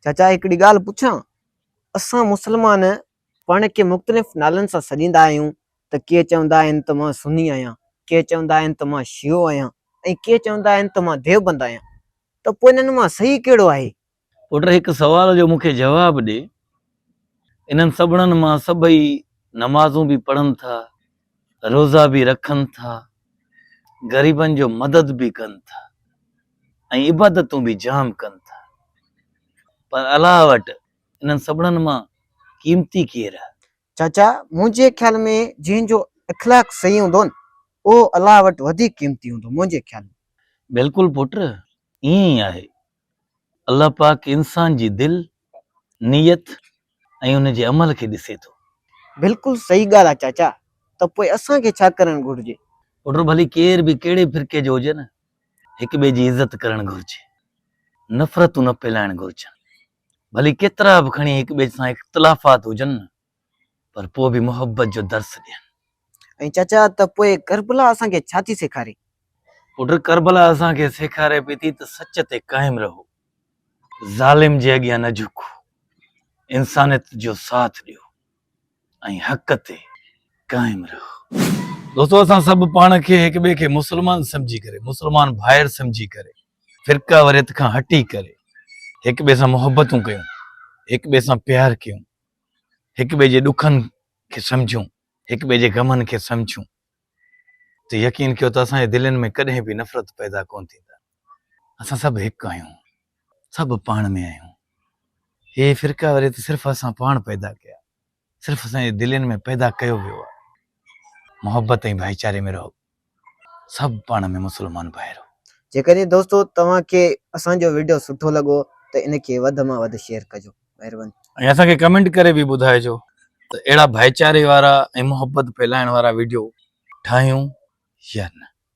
چاچا هڪڙي ڳالهه پڇان؟ اسان مسلمان پاڻ کي مختلف نالن سان سڏيندا آهيون ته ڪي چوندا آهن ته مان سني آهيان، ڪي چوندا آهن ته مان شيعو آهيان ۽ ڪي چوندا آهن ته مان ديوبند آهيان ته پوء انهن مان صحيح ڪهڙو آهي؟ پٽ هڪ سوال جو مون کي جواب ڏي. انهن سڀڻن مان سڀئي نمازون به پڙهن ٿا، روزا به رکن ٿا، غريبن جو مدد به ڪن ٿا ۽ عبادتون به جام ڪن ٿا. پر الله وٽ انهن سڀڻن مان قيمتي ڪير آهي؟ چاچا، منهنجي خيال ۾ جنهن جو اخلاق صحيح هوندو نه، اهو الله وٽ وڌيڪ قيمتي هوندو، منهنجي خيال ۾. بلڪل پٽ، ائين ئي آهي. الله پاڪ انسان جي دل، نيت ۽ ان جي عمل کي ڏسي ٿو. بلڪل صحيح ڳالهه آ چاچا ته پوء اسان کي ڇا ڪرڻ گهرجي. پٽ ڀلي ڪير به ڪهڙي فرقي جو هجن هڪ ٻئي جي عزت ڪرڻ گهرجي نفرتون نه ڦهلائڻ گهرجن ڀلي ڪيترا به کڻي هڪ ٻئي سان اختلافات هجن پر پوء به محبت جو درس ڏين. ۽ چچا ته پوء ڪربلا اسان کي ڇا ٿي سيکاري؟ پٽ ڪربلا اسان کي سيکاري پئي ٿي ته سچ تي قائم رهو، ظالم جي اڳيان نه جهڪو، انسانيت جو ساٿ ڏيو ۽ حق تي قائم رهو. دوستو اسان سڀ پاڻ کي هڪ ٻئي کي مسلمان سمجهي ڪري، مسلمان ڀائر سمجهي ڪري، فرقه وريت کان هٽي ڪري هڪ ٻئي سان محبتون ڪيون، هڪ ٻئي سان پيار ڪيون، هڪ ٻئي جي ڏکن کي سمجهون، هڪ ٻئي جي غمن کي سمجهون ته يقين ڪيو ته اسان جي دلين ۾ ڪڏهن به نفرت پيدا ڪونه ٿيندا. اسان سڀ هڪ آهيون، سڀ پاڻ ۾ آهيون. هي فرقا وري ته صرف اسان پاڻ پيدا ڪيا، صرف اسان جي دلين ۾ پيدا ڪيو ويو آهي. محبت ۽ ڀائيچاري ۾ رهو. سڀ پاڻ ۾ مسلمان ڀائرو. جيڪڏهن دوستو توهان کي اسان جو وڊيو سٺو لڳو ته ان کي وڌ مان وڌ شيئر ڪجو مهرباني. ۽ اسان کي ڪمينٽ ڪري به ٻڌائجو ته اهڙا ڀائيچاري وارا ۽ محبت ڦهلائڻ وارا وڊيو ٺاهيون يا نه.